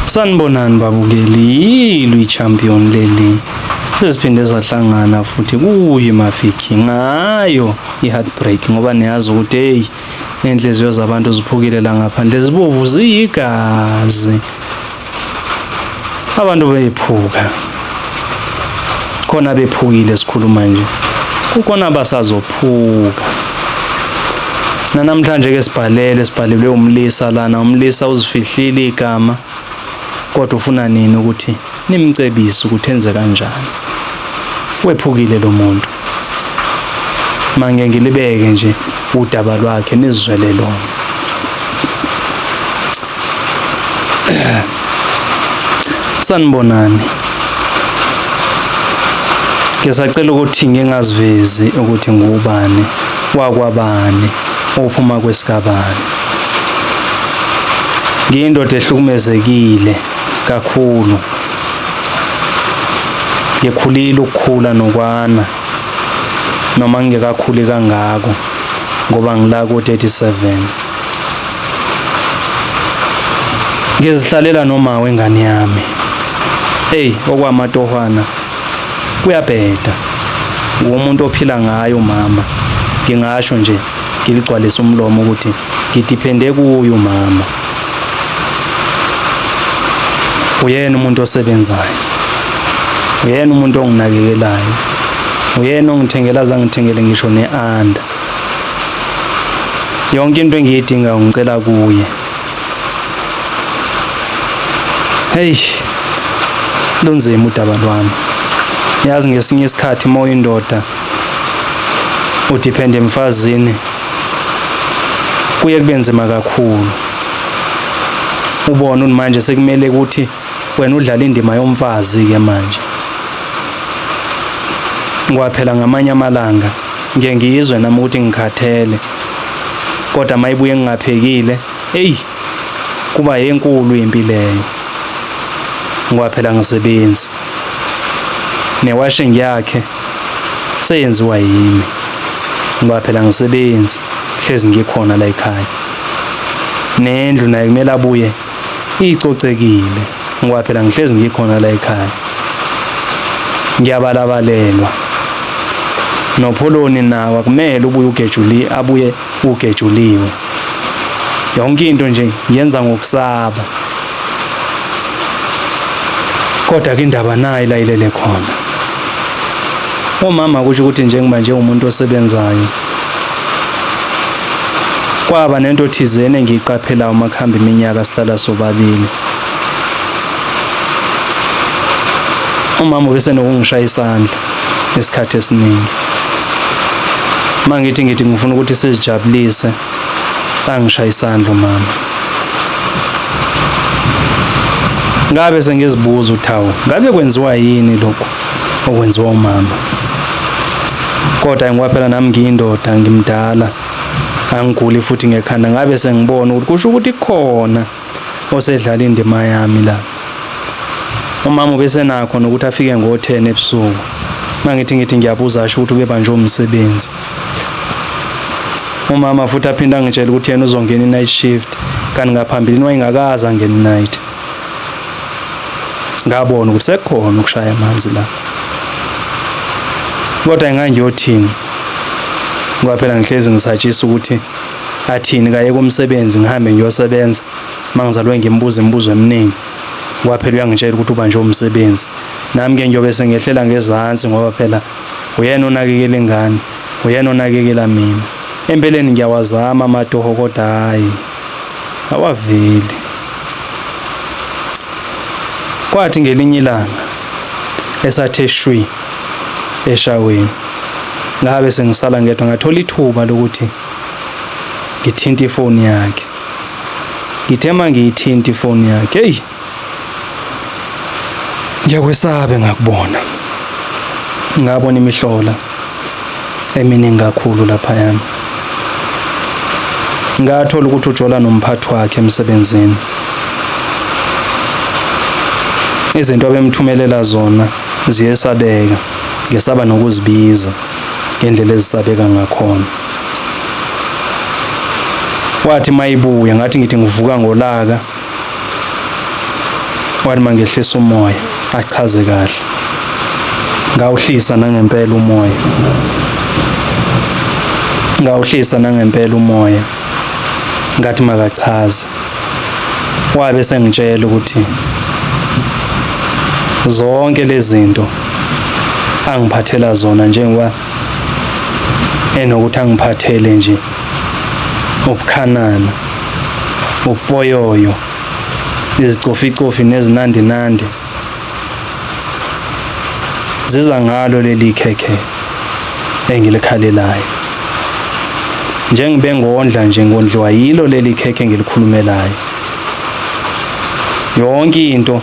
Sanibonani babukeli, yilo i-champion leli seziphinde zahlangana futhi kuye mafiki ngayo i-heartbreak ngoba niyazi ukuthi heyi iy'nhliziyo zabantu ziphukile la ngaphandle zibovu ziyigazi abantu beyiphuka khona bephukile sikhuluma nje kukhona abasazophuka nanamhlanje ke sibhalele sibhalelwe umlisa lana umlisa uzifihlile igama kodwa ufuna nini ukuthi nimcebise ukuthi enze kanjani wephukile lo muntu Mange ngilibeke nje udaba lwakhe nizwele lona. Sanibonani. Ngisacela ukuthi ngingazivezi ukuthi ngubani wakwabani ophuma kwesikabani. Ngiyindoda ehlukumezekile kakhulu ngikhulile ukukhula nokwana noma ngingekakhuli kangako ngoba ngila ku 37 ngizihlalela noma wengane yami hey okwamatohwana kuyabheda ngumuntu ophila ngayo mama ngingasho nje ngiligcwalisa umlomo ukuthi ngidiphende kuye umama uyena umuntu osebenzayo uyena umuntu onginakekelayo uyena ongithengela zangithengele ngisho ne-anda yonke into engiyidingayo ngicela kuye heyi lunzima udaba lwami yazi ngesinye isikhathi uma uyindoda udiphende emfazini kuye kube nzima kakhulu ubona manje sekumele ukuthi wena udlala indima yomfazi ke manje kwaphela ngamanye amalanga ngiye ngiyizwe nami ukuthi ngikhathele kodwa mayibuye ngingaphekile eyi kuba yenkulu impi leyo ngoba phela ngisebenzi newashing yakhe seyenziwa yimi ngoba phela ngisebenzi hlezi ngikhona la ekhaya nendlu naye kumele abuye icocekile ngoba phela ngihlezi ngikhona la ekhaya ngiyabalabalelwa nopholoni nawo akumele ubuye ugejuli abuye ugejuliwe yonke into nje yenza ngokusaba kodwa ke indaba nayo ilayilele khona umama kusho ukuthi njengoba nje umuntu osebenzayo kwaba nento thizene engiyiqaphela uma kuhamba iminyaka sihlala sobabili umama bese nokungishaya isandla isikhathi esiningi uma ngithi ngithi ngifuna ukuthi sizijabulise angishaye isandla mama ngabe sengizibuza uthawu ngabe kwenziwa yini lokhu okwenziwa umama kodwa ngoba phela nami ngiyindoda ngimdala angiguli futhi ngekhanda ngabe sengibona ukuthi kusho ukuthi khona osedlala indima yami la umama ubesenakho nokuthi afike ngo-10 ebusuku mangithi ngithi ngiyabuza asho ukuthi ubebanjwe umsebenzi umama futhi aphinde angitshela ukuthi yena uzongena i-night shift kanti ngaphambilini wayengakazi angena i-night ngabona ukuthi sekukhona ukushaya amanzi la kodwa engangiyothini ngoba phela ngihlezi ngisatshisa ukuthi Athini kaye komsebenzi ngihambe ngiyosebenza mangizalwe ngimbuza imibuzo eminingi ngoba phela uyangitshela ukuthi ubanjwe umsebenzi nami ke ngiyobe sengehlela ngezansi ngoba phela uyena onakekela ingane uyena onakekela mina empeleni ngiyawazama amatoho kodwa hayi awaveli kwathi ngelinye ilanga esathe shwi eshaweni ngabe sengisala ngedwa ngathola ithuba lokuthi ngithinta ifoni yakhe ngithe uma ngiyithinta ifoni yakhe eyi ngiyakwesabe ngakubona ngabona imihlola eminingi kakhulu lapha yami ngathola ukuthi ujola nomphathi wakhe emsebenzini izinto abemthumelela zona ziyesabeka ngesaba nokuzibiza ngendlela ezisabeka ngakhona wathi mayibuya ngathi ngithi ngivuka ngolaka wathi mangehlisa umoya achaze kahle ngawuhlisa nangempela umoya ngawuhlisa nangempela umoya ngathi makachaze wabe sengitshela ukuthi zonke lezi zinto angiphathela zona njengoba enokuthi angiphathele nje ubukhanana upoyoyo izicoficofi nezinandinandi ziza ngalo leli khekhe engilikhalelayo njengibe ngondla nje ngondliwa yilo leli khekhe engilikhulumelayo yonke into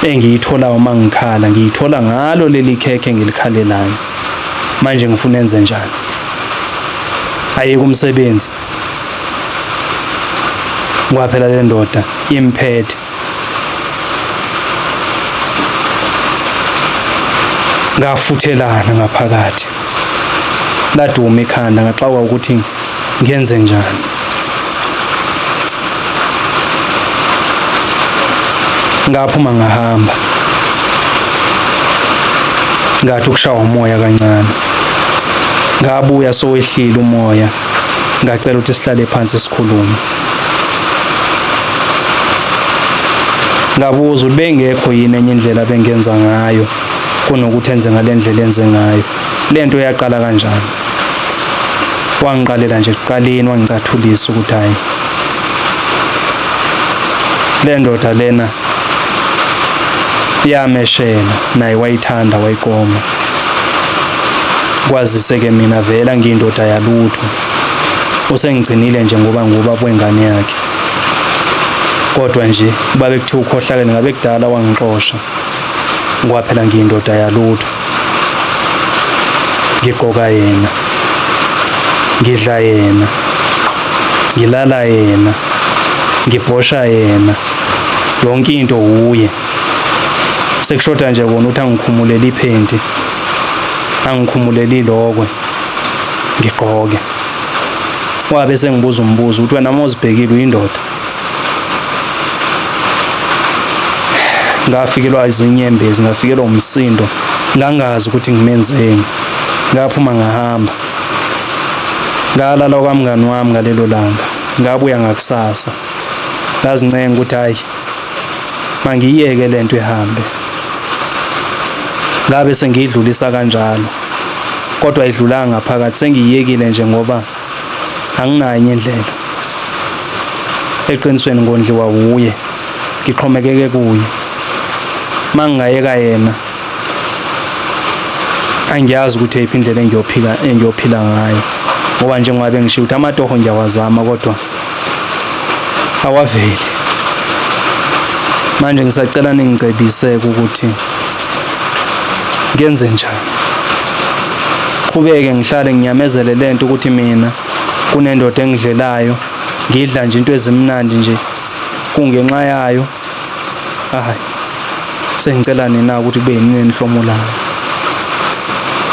engiyithola uma ngikhala ngiyithola ngalo leli khekhe engilikhalelayo manje ngifuna enze njani ayeke umsebenzi kwaphela le ndoda imphethe ngafuthelana ngaphakathi laduma ikhanda ngaxakwa ukuthi ngenze njani ngaphuma ngahamba ngathi ukushawa umoya kancane ngabuya sowehlile umoya ngacela ukuthi sihlale phansi sikhulume ngabuza ukuthi bengekho yini enye indlela bengenza ngayo kunokuthi enze ngale ndlela enze ngayo le nto yaqala kanjani wangiqalela nje kuqaleni wangicathulisa ukuthi hhayi le ndoda lena yameshela naye wayithanda wayiqoma kwazise-ke mina vele angiyindoda yalutho usengigcinile nje ngoba nguba kwengane yakhe kodwa nje uba bekuthiwa ukhohlakele ngabe kudala wangixosha ngoba phela ngiyindoda yalutho ngigqoka yena ngidla yena ngilala yena ngibhosha yena yonke into wuye sekushoda nje kona ukuthi angikhumuleli iphenti angikhumuleli lokwe ngigqoke wabe sengibuza umbuzo ukuthi wena mozibhekile uyindoda ngafikelwa izinyembezi ngafikelwa umsindo ngangazi ukuthi ngimenzeni ngaphuma ngahamba ngalala kwamngani wami ngalelo langa ngabuya ngakusasa ngazincenga ukuthi hayi mangiyeke lento ihambe ngabe sengiyidlulisa kanjalo kodwa idlulanga ngaphakathi sengiyiyekile nje ngoba anginayo enye indlela eqinisweni ngondliwa wuye ngixhomekeke kuye mangingayeka yena angiyazi ukuthi eyiphi indlela engiyophika engiyophila ngayo ngoba njengoba bengishiya ukuthi amatoho ngiyawazama kodwa awaveli manje ngisacela ningicebiseke ukuthi ngenze njani qhubeke ngihlale ngiyamezele lento ukuthi mina kunendoda engidlelayo ngidla nje into ezimnandi nje kungenxa yayo hayi sengicela nina ukuthi kube yini enihlomulayo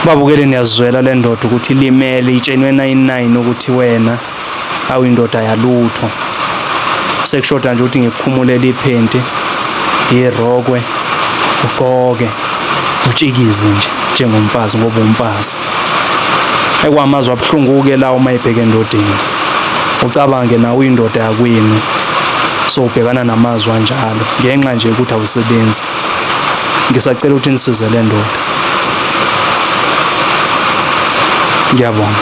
babukele niyazizwela le ndoda ukuthi ilimele itshenwe 99 ukuthi wena awu indoda yalutho sekushoda nje ukuthi ngikukhumulele iphenti irokwe ugqoke utshikize nje njengomfazi ngoba umfazi ekwamazwa abuhlungu-ke la uma ebheke endodeni ucabange nawe uyindoda yakwenu sowubhekana namazwi anjalo ngenxa nje ukuthi awusebenzi ngisacela ukuthi nisize le ndoda ngiyabonga